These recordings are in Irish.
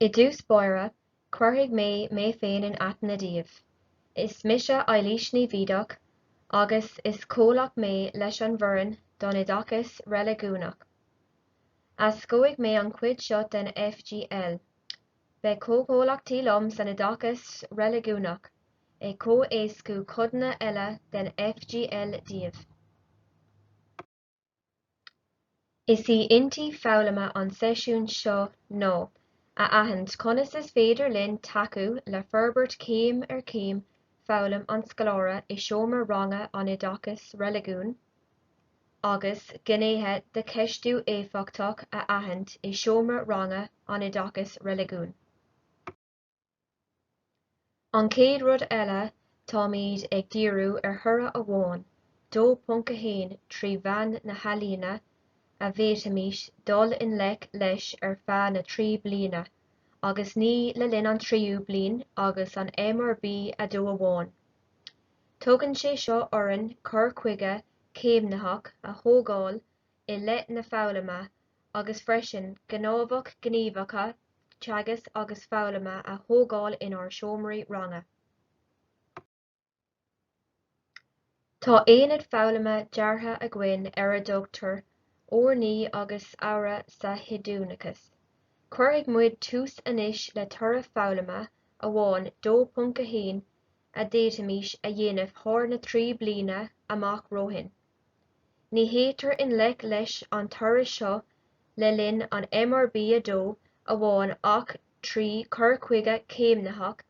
I dtús báire, cuirfidh mé mé féin in aithne daoibh. Is mise Eilís Ní Bhídeach agus is comhlach mé leis an bhfoireann don Oideachas Reiligiúnach. Éascóidh mé an chuid seo den FGL. Beidh comhchomhlachtaí liom san Oideachas Reiligiúnach ag comh-éascú codanna eile den FGL daoibh. Is í intinn foghlama an seisiún seo ná a aithint conas is féidir linn tacú le forbairt céim ar chéim foghlaim an scoláire i seomra ranga an Oideachais Reiligiúin agus gnéithe de cheistiú éifeachtach a aithint i seomra ranga an Oideachais Reiligiúin. An chéad rud eile, táimid ag díriú ar thoradh amháin, 2.1, trí mheán na healaíne, a bhféadfaimis dul i ngleic leis ar feadh na trí bliana, agus ní le linn an tríú bliain agus an MRB 2 amháin. Tugann sé seo orainn cur chuige céimnitheach a thógáil i leith na foghlama agus freisin gnámhach gníomhacha teagasc agus foghlama a thógáil inár seomraí ranga. Tá aonad foghlama deartha againn ar a dtugtar Urnaí agus Adhradh sa Hiondúchas. Cuirfidh muid tús anois le toradh foghlama amháin, 2.1, a d'fhéadfaimis a dhéanamh thar na trí bliana amach romhainn. Ní théitear i ngleic leis an toradh seo le linn an MRB 2 amháin ach trí chur chuige céimnitheach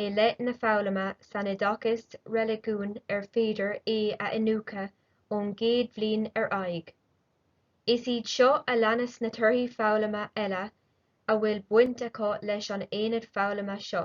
i leith na foghlama san oideachas reiligiúin ar féidir é a iniúchadh ón gcéad bhliain ar aghaidh. Is iad seo a leanas na torthaí foghlama eile a bhfuil baint acu leis an aonad foghlama seo.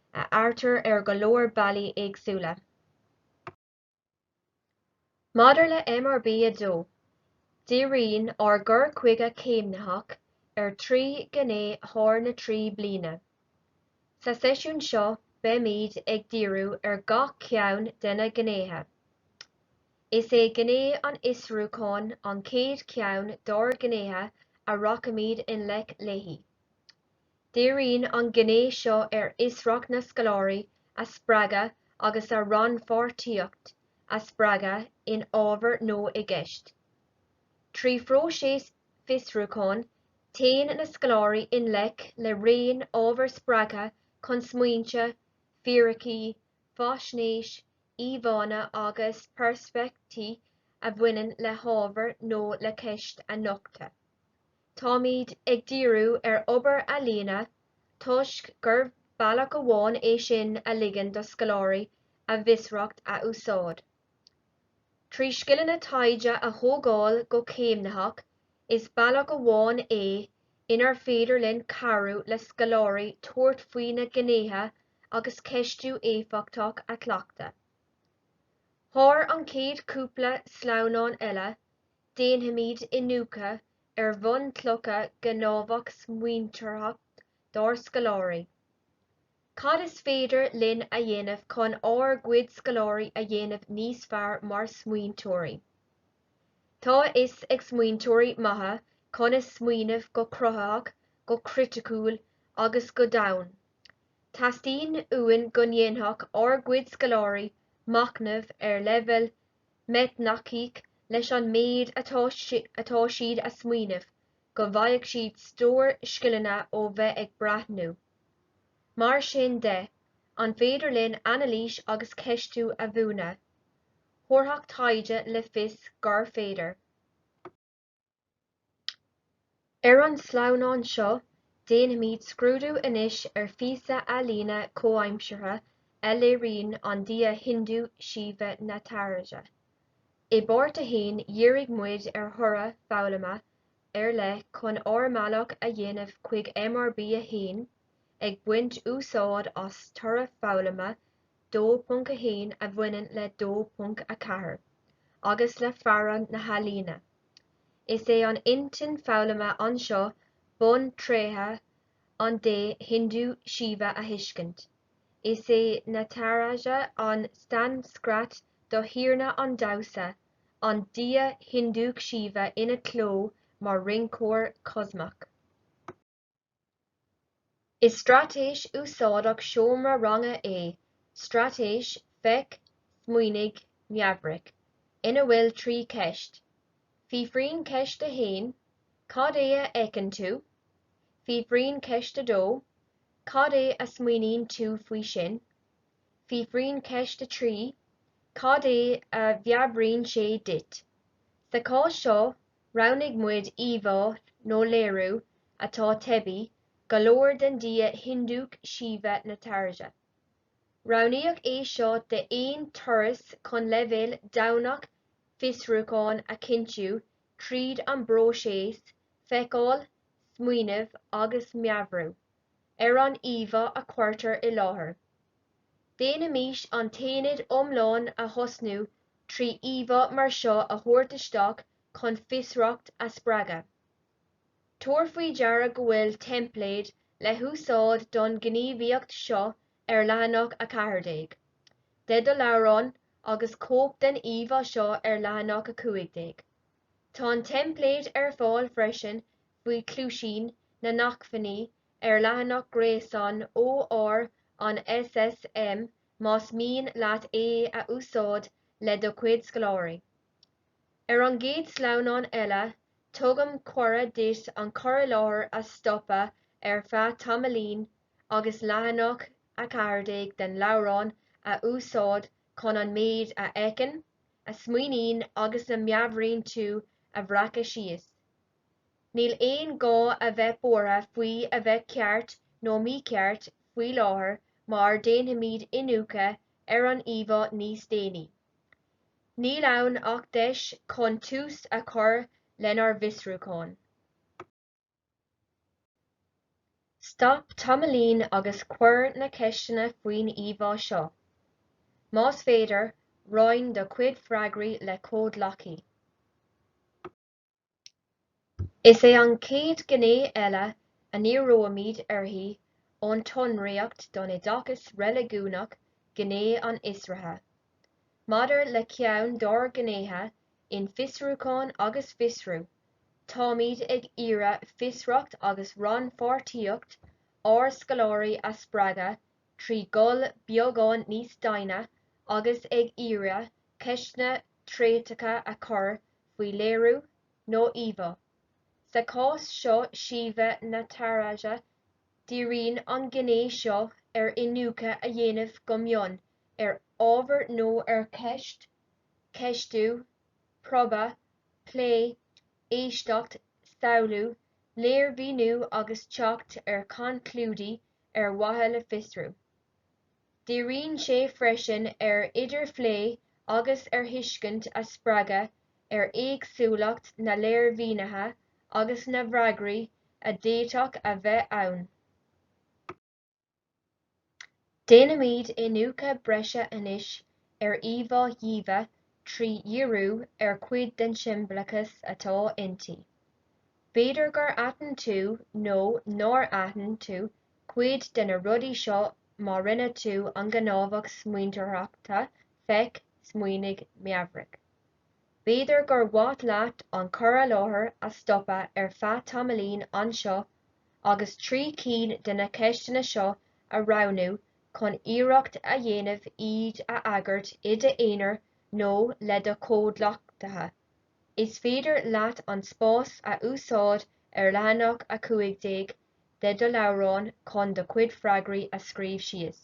a adhartar ar go leor bealaí éagsúla. Maidir le MRB 2, díríonn ár gcur chuige céimnitheach ar thrí ghné thar na trí bliana. Sa seisiún seo beimid ag díriú ar gach ceann de na gnéithe. Is é gné an fhiosrúcháin an chéad cheann dár ngnéithe a rachaimid i ngleic léi. Díríonn an gné seo ar fhiosracht na scoláirí a spreagadh agus a rannpháirtíocht a spreagadh in ábhar nó i gceist. Trí phróiseas fiosrúcháin, téann na scoláirí i ngleic le raon ábhar spreagtha chun smaointe, fíricí, faisnéis, íomhánna agus peirspeictí a bhaineann le hábhar nó le ceist a nochtadh. Táimid ag díriú ar obair ealaíne toisc gur bealach amháin é sin a ligeann do scoláirí a bhfiosracht a úsáid. Trí scileanna taighde a thógáil go céimnitheach, is bealach amháin é inar féidir linn cabhrú le scoláirí tabhairt faoi na gnéithe agus ceistiú éifeachtach a chleachtadh. Thar an chéad chúpla sleamhnán eile, Déanfaimid iniúchadh ar bhunchlocha gnáthamh smaointeoireachta dár scoláirí. Cad is féidir linn a dhéanamh chun ár gcuid scoláirí a dhéanamh níos fearr mar smaointeoirí? Tá a fhios ag smaointeoirí maithe conas smaoineamh go cruthaitheach, go criticiúil agus go domhain. Teastaíonn uainn go ndéanfadh ár gcuid scoláirí machnamh ar leibhéal meiteachognaíoch leis an méid atá siad a smaoineamh go bhfaighidh siad stór scileanna ó bheith ag breathnú. Mar sin de, an féidir linn anailís agus ceistiú a mhúineadh? Thabharfadh taighde le fios gur féidir. Ar an sleamhnán seo, déanfaimid scrúdú anois ar phíosa ealaíne comhaimseartha a léiríonn an dia Hindu Shiva Nataraja. I bpáirt a haon, dhírigh muid ar thoradh foghlama ar leith chun ár mbealach a dhéanamh chuig MRB 1, ag baint úsáid as toradh foghlama 2.1 a bhaineann le 2.4 agus le fearann na healaíne. Is é an intinn foghlama anseo buntréithe an dé Hindu Shiva a thuiscint. Is é Nataraja an tSanscrait do thiarna an damhsa, an dia Hindúch Shiva ina cló mar rinceoir cosmach. Is straitéis úsáideach seomra ranga é straitéis 'Feic, Smaoinigh, Meabhraigh' ina bhfuil trí cheist. Fiafraíonn ceist a haon, 'Cad é a fheiceann tú? Fiafraíonn ceist a dó, 'Cad é a smaoiníonn tú faoi sin? Fiafraíonn ceist a trí, 'Cad é a mheabhraíonn sé duit? Sa chás seo, Roghnaigh muid íomhá nó léiriú atá teibí go leor den dia Hiondúch Shiva Nataraja. Roghnaíodh é seo d'aon turas chun leibhéal domhain fiosrúcháin a chinntiú tríd an bpróiseas feiceáil, smaoineamh agus meabhrú. ar an íomhá a cuirtear i láthair. Déanaimis an t-aonad iomlán a thosnú trí íomhá mar seo a thabhairt isteach chun fiosracht a spreagadh. Tabhair faoi deara go bhfuil teimpléad le húsáid don ghníomhaíocht seo ar leathanach a 14 de do leabhrán agus cóip den íomhá seo ar leathanach a 15. Tá an teimpléad ar fáil freisin faoi Cluaisín na nAcmhainní ar leathanach gréasáin OR an SSM más mian leat é a úsáid le do chuid scoláirí. Ar an gcéad sleamhnán eile, tugaim cuireadh duit an cur i láthair a stopadh ar feadh tamaillín agus leathanach a 14 den leabhrán a úsáid chun an méid a fheiceann a smaoiníonn agus a mheabhraíonn tú a bhreacadh síos. Níl aon gá a bheith buartha faoi a bheith ceart nó mícheart faoi láthair mar déanfaimid iniúchadh ar an íomhá níos déanaí. Níl ann ach deis chun tús a chur lenár bhfiosrúchán. Stop tamaillín agus cuir na ceisteanna faoin íomhá seo. Más féidir, roinn do chuid freagraí le comhghleacaí. Is é an chéad ghné eile a ndíreoimid uirthi ón tSonraíocht don Oideachas Reiligiúnach gné an fhiosraithe. Maidir le ceann dár ngnéithe In Fiosrúchán agus Fiosrú, táimid ag iarraidh fiosracht agus rannpháirtíocht ár scoláirí a spreagadh trí dhul beagán níos doimhne agus ag iarraidh ceisteanna tréiteacha a chur faoi léiriú nó íomhá, sa cás seo Shiva Nataraja. Díríonn an ghné seo ar iniúchadh a dhéanamh go mion ar ábhar nó ar cheist, ceistiú, promhadh, plé, éisteacht, samhlú, léirmhíniú agus teacht ar chonclúidí ar mhaithe le fiosrú. Díríonn sé freisin ar idirphlé agus ar thuiscint a spreagadh ar éagsúlacht na léirmhínithe agus na bhfreagraí a d'fhéadfadh a bheith ann. Déanaimid iniúchadh breise anois ar íomhá Shiva trí dhíriú ar chuid den siombalachas atá inti. B'fhéidir gur aithin tú nó nár aithin tú cuid de na rudaí seo má rinne tú an gnáthamh smaointeoireachta feic, smaoinigh, meabhraigh. B'fhéidir gur mhaith leat an cur i láthair a stopadh ar feadh tamaillín anseo agus trí cinn de na ceisteanna seo a roghnú chun iarracht a dhéanamh iad a fhreagairt i d'aonar nó le do chomhghleacaithe. Is féidir leat an spás a úsáid ar leathanach 15 de do leabhrán chun do chuid freagraí a scríobh síos.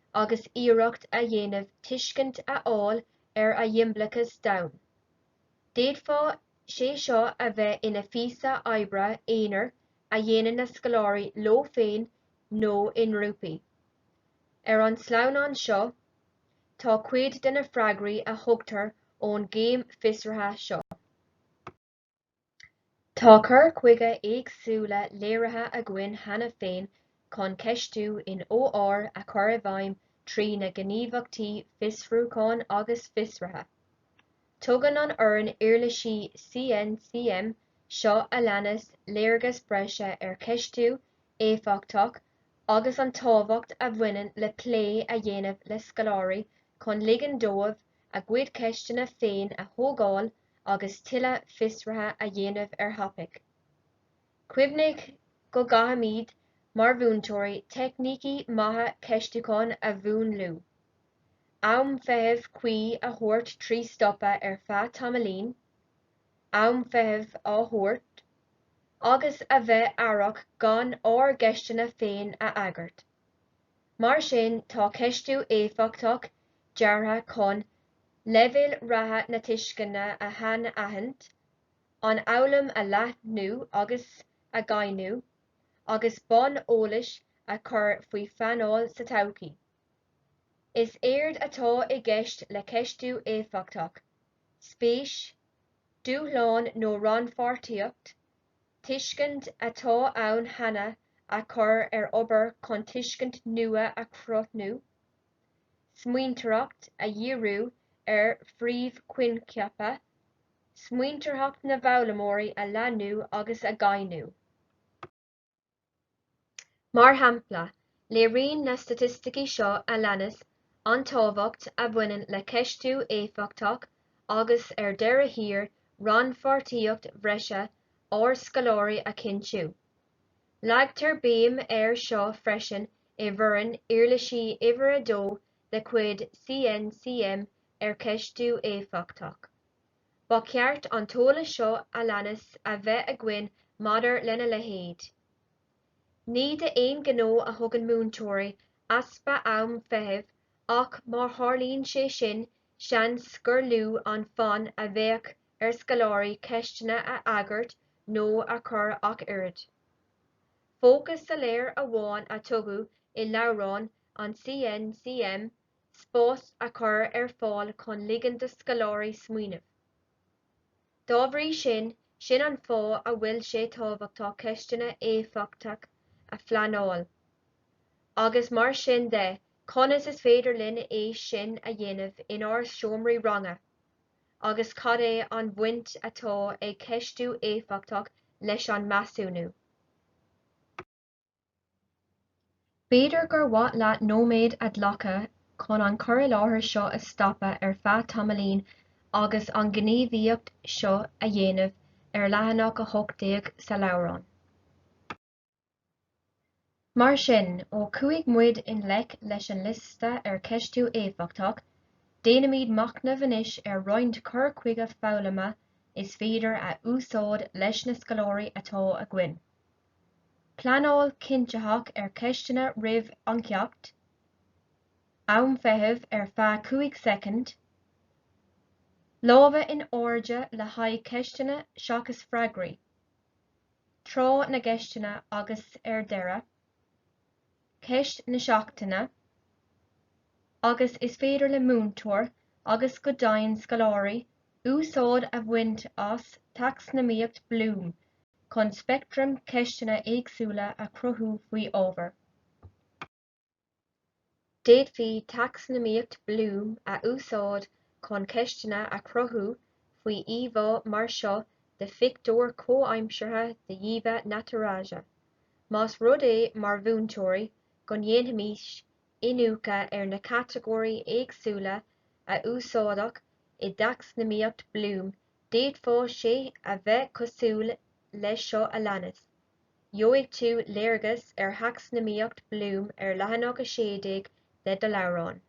agus iarracht a dhéanamh tuiscint a fháil ar a shiombalachas domhain. D'fhéadfadh sé seo a bheith ina phíosa oibre aonair a dhéanann na scoláirí leo féin nó i ngrúpaí. Ar an sleamhnán seo tá cuid de na freagraí a thugtar ón gcéim fiosraithe seo. Tá cur chuige éagsúla léirithe againn cheana féin chun ceistiú in OR a chur i bhfeidhm trí na gníomhaíochtaí fiosrúcháin agus fiosraithe. Tugann an fhoireann uirlisí CNCM seo a leanas léargas breise ar cheistiú éifeachtach agus an tábhacht a bhaineann le plé a dhéanamh le scoláirí chun ligean dóibh a gcuid ceisteanna féin a thógáil a agus tuilleadh fiosruithe a dhéanamh ar thopaic. Cuimhnigh go gcaithfimid mar mhúinteoirí teicnící maithe ceistiúcháin a mhúnlú, am feithimh cuí a thabhairt trí stopadh ar feadh tamaillín, am feithimh a thabhairt, agus a bheith aireach gan ár gceisteanna féin a fhreagairt. Mar sin tá ceistiú éifeachtach deartha chun leibhéal reatha na tuisceana a shainaithint, an fhoghlaim a leathnú agus a dhoimhniú, agus bonn eolais a chur faoi phleanáil sa todhchaí. Is éard atá i gceist le ceistiú éifeachtach, spéis, dúshlán nó rannpháirtíocht tuiscint atá ann cheana a chur ar obair chun tuiscint nua a chruthnú, smaointeoireacht a dhíriú ar phríomhchoincheapa, smaointeoireacht na bhfoghlaimeoirí a leathnú agus a dhoimhniú. Mar shampla, léiríonn na staitisticí seo a leanas an tábhacht a bhaineann le ceistiú éifeachtach agus, ar deireadh thiar, rannpháirtíocht bhreise ár scoláirí a chinntiú. Leagtar béim air seo freisin i bhfoireann uirlisí uimhir a dó de chuid CNCM ar cheistiú éifeachtach. Ba cheart an t-eolas seo a leanas a bheith againn maidir lena leithéid. Ní d'aon ghnó a thugann múinteoirí easpa am feithimh ach má tharlaíonn sé sin, seans gur lú an fonn a bheadh ar scoláirí ceisteanna a fhreagairt nó a chur ach oiread. Fócas soiléir amháin a tugadh i leabhrán an CNCM spás a chur ar fáil chun ligean do scoláirí smaoineamh. Dá bhrí sin, sin an fáth a bhfuil sé tábhachtach ceisteanna éifeachtach a phleanáil, agus mar sin de, conas is féidir linn é sin a dhéanamh inár seomraí ranga, agus cad é an bhaint atá ag ceistiú éifeachtach leis an measúnú. B'fhéidir gur mhaith leat nóiméad a ghlacadh chun an cur i láthair seo a stopadh ar feadh tamaillín agus an gníomhaíocht seo a dhéanamh ar leathanach a 18 sa leabhrán. Mar sin, ó chuaigh muid i ngleic leis an liosta ar cheistiú éifeachtach, déanfaimid machnamh anois ar roinnt cur chuige foghlama is féidir a úsáid leis na scoláirí atá againn. pleanáil cinntitheach ar cheisteanna roimh an ceacht, am feithimh ar feadh 5 soicind, lámha in airde le haghaidh ceisteanna seachas freagraí, tráth na gceisteanna agus ar deireadh, ceist na seachtaine, agus is féidir le múinteoir agus go deimhin scoláirí úsáid a bhaint as Tacsanomaíocht Bloom, chun speictream ceisteanna éagsúla a chruthú faoi ábhar. D'fhéadfaí Tacsanomaíocht Bloom a úsáid chun ceisteanna a chruthú faoi íomhá mar seo de phictiúr comhaimseartha de Shiva Nataraja, más rud é, mar mhúinteoirí, go ndéanfaimis iniúchadh ar na catagóirí éagsúla a úsáideadh i dTacsanomaíocht Bloom D'fhéadfadh sé a bheith cosúil leis seo a leanas, Gheobhaidh tú léargas ar thacsanomaíocht Bloom ar leathanach a 16 de do leabhrán.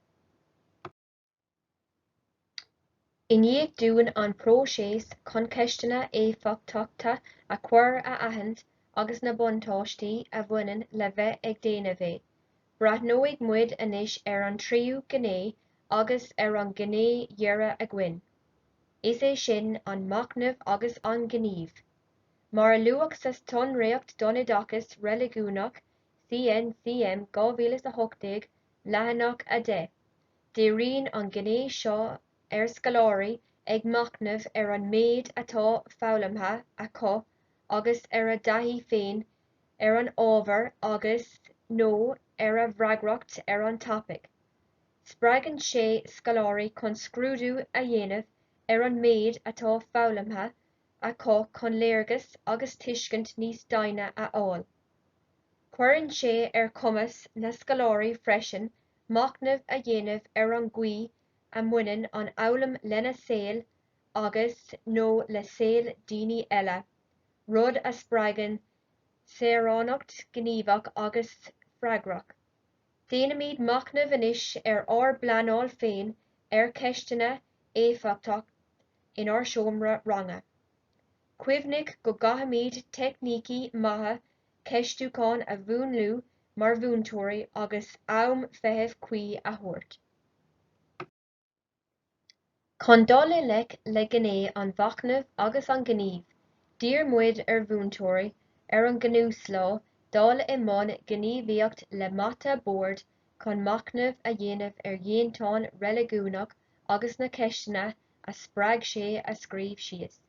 I ndiaidh dúinn an próiseas chun ceisteanna éifeachtacha a chur a aithint agus na buntáistí a bhaineann le bheith ag déanamh é, breathnóidh muid anois ar an tríú gné agus ar an gné dheiridh againn, is é sin an machnamh agus an gníomh. Mar a luadh sa tSonraíocht don Oideachas Reiligiúnach, CNCM, 2018, leathanach 10, díríonn an ghné seo ar scoláirí ag machnamh ar an méid atá foghlamtha acu agus ar a dtaithí féin ar an ábhar agus, nó ar a bhfreagracht ar an topaic. Spreagann sé scoláirí chun scrúdú a dhéanamh ar an méid atá foghlamtha acu chun léargas agus tuiscint níos doimhne a fháil. Cuireann sé ar chumas na scoláirí freisin machnamh a dhéanamh ar an gcaoi a mbaineann an fhoghlaim lena saol agus, nó le saol daoine eile, rud a spreagann saoránacht ghníomhach agus freagrach. Déanaimid machnamh anois ar ár bpleanáil féin ar cheisteanna éifeachtacht inár seomra ranga. Cuimhnigh go gcaithfimid teicnící maithe ceistiúcháin a mhúnlú mar mhúinteoirí agus am feithimh cuí a thabhairt. Chun dul i ngleic le gné an mhachnaimh agus an ghnímh, d'iarr muid ar mhúinteoirí ar an gcnuaslá dul i mbun gníomhaíocht le mata boird chun machnamh a dhéanamh ar dhéantáin reiligiúnach agus na ceisteanna a spreag sé a scríobh síos.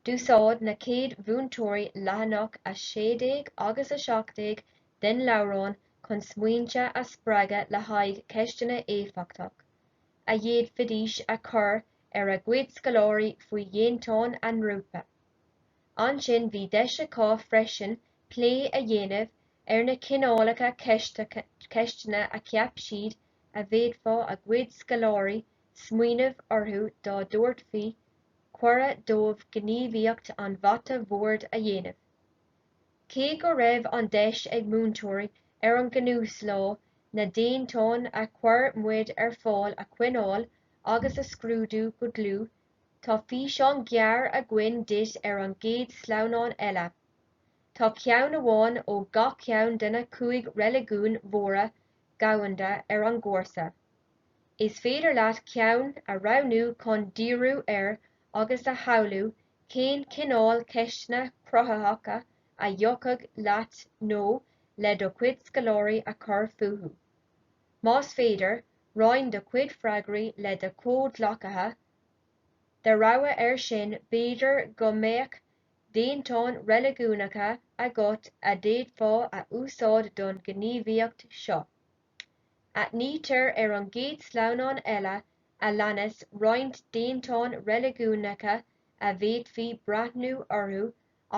D'úsáid na chéad mhúinteoirí leathanach a 16 agus a 17 den leabhrán chun smaointe a spreagadh le haghaidh ceisteanna éifeachtach, a d'fhéadfaidís a chur ar a gcuid scoláirí faoi dhéantáin a ngrúpa. Ansin bhí deis acu freisin plé a dhéanamh ar na cineálacha ceisteanna a cheap siad a bhféadfadh a gcuid scoláirí a smaoineamh orthu dá dtabharfaí cuireadh dóibh gníomhaíocht an mhata bhoird a dhéanamh. Cé go raibh an deis ag múinteoirí ar an gcnuaslá na déantáin a chuir muid ar fáil a choinneáil agus a scrúdú go dlúth, tá físeán gearr againn duit ar an gcéad sleamhnán eile. Tá ceann amháin ó gach ceann de na cúig reiligiún mhóra dhomhanda ar an gcúrsa. Is féidir leat ceann a roghnú chun díriú air agus a shamhlú cén cineál ceisteanna cruthaitheacha a thiocfadh leat nó le do chuid scoláirí a chur fúthu. Más féidir, roinn do chuid freagraí le do chomhghleacaithe. De rogha air sin, b'fhéidir go mbeadh déantáin reiligiúnacha agat a d'fhéadfá a úsáid don ghníomhaíocht seo. Aithnítear ar an gcéad sleamhnán eile a leanas roinnt déantáin reiligiúnacha a bhféadfaí breathnú orthu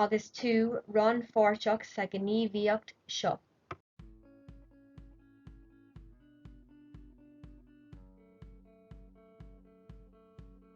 agus tú rannpháirteach sa ghníomhaíocht seo.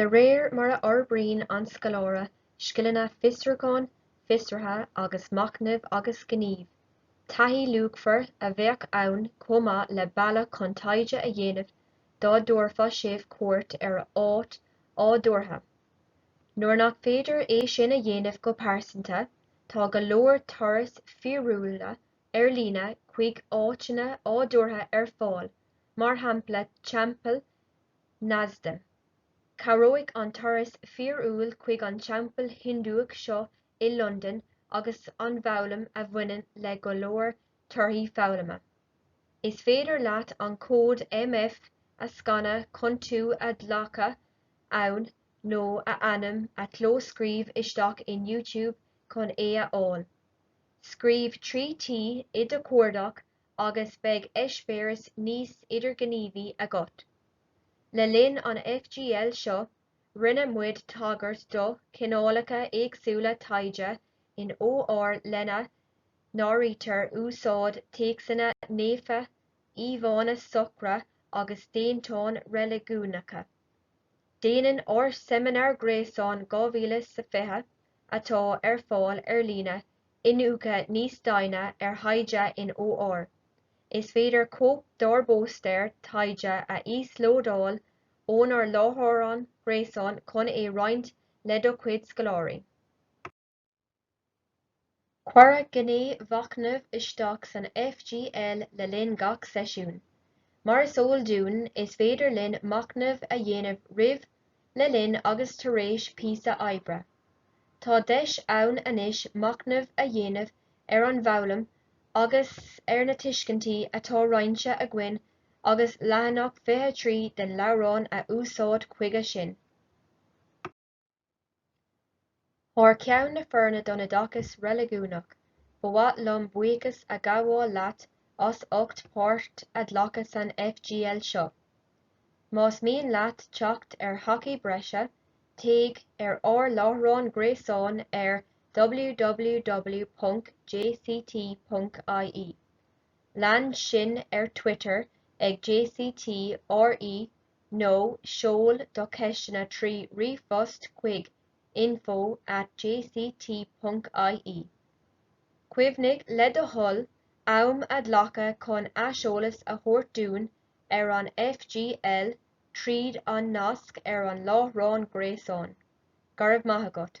De réir mar a fhorbraíonn an scoláire scileanna fiosrúcháin, fiosraithe agus machnaimh agus gnímh, taithí luachmhar a bheadh ann chomh maith le bealadh chun taighde a dhéanamh dá dtabharfadh sibh cuairt ar áit adhartha. Nuair nach féidir é sin a dhéanamh go pearsanta, tá go leor turas fíorúil ar líne chuig áiteanna adhartha ar fáil, mar shampla Teampall Neasden. Cabhróidh an turas fíorúil chuig an teampall Hiondúch seo i Londain leis an bhfoghlaim a bhaineann le go leor torthaí foghlama. Is féidir leat an cód MF a scanadh chun tú a ghlacadh ann nó a ainm a chlóscríobh isteach in YouTube chun é a fháil. Scríobh 3T i do chuardach agus beidh eispéireas níos idirghníomhaí agat. Le linn an FGL seo, rinne muid tagairt do chineálacha éagsúla taighde in OR lena n-áirítear úsáid téacsanna naofa, íomhánna socra agus déantáin reiligiúnacha. Déanann ár seimineár gréasáin 2020, atá ar fáil ar líne, iniúchadh níos doimhne ar thaighde in OR. Is féidir cóip dár bpóstaer taighde a íoslódáil ónár láithreán gréasáin chun é roinnt le do chuid scoláirí. Cuireadh gné mhachnaimh isteach san FGL le linn gach seisiún. Mar is eol dúinn, is féidir linn machnamh a dhéanamh roimh, le linn agus tar éis píosa oibre. Tá deis ann anois machnamh a dhéanamh ar an bhfoghlaim agus ar na tuiscintí atá roinnte againn agus leathanach 23 den leabhrán a úsáid chuige sin. Thar ceann na Foirne don Oideachas Reiligiúnach, ba mhaith liom buíochas a ghabháil leat as ucht páirt a ghlacadh san FGL seo. Más mian leat teacht ar thacaí breise, téigh ar ár láithreán gréasáin ar www.jct.ie. Lean sinn ar Twitter ag jct RE nó seol do cheisteanna trí ríomhphost chuig info at jct ponc ie. Cuimhnigh, le do thoil, am a ghlacadh chun aiseolas a thabhairt dúinn ar an FGL tríd an nasc ar an láithreán gréasáin. Go raibh maith agat.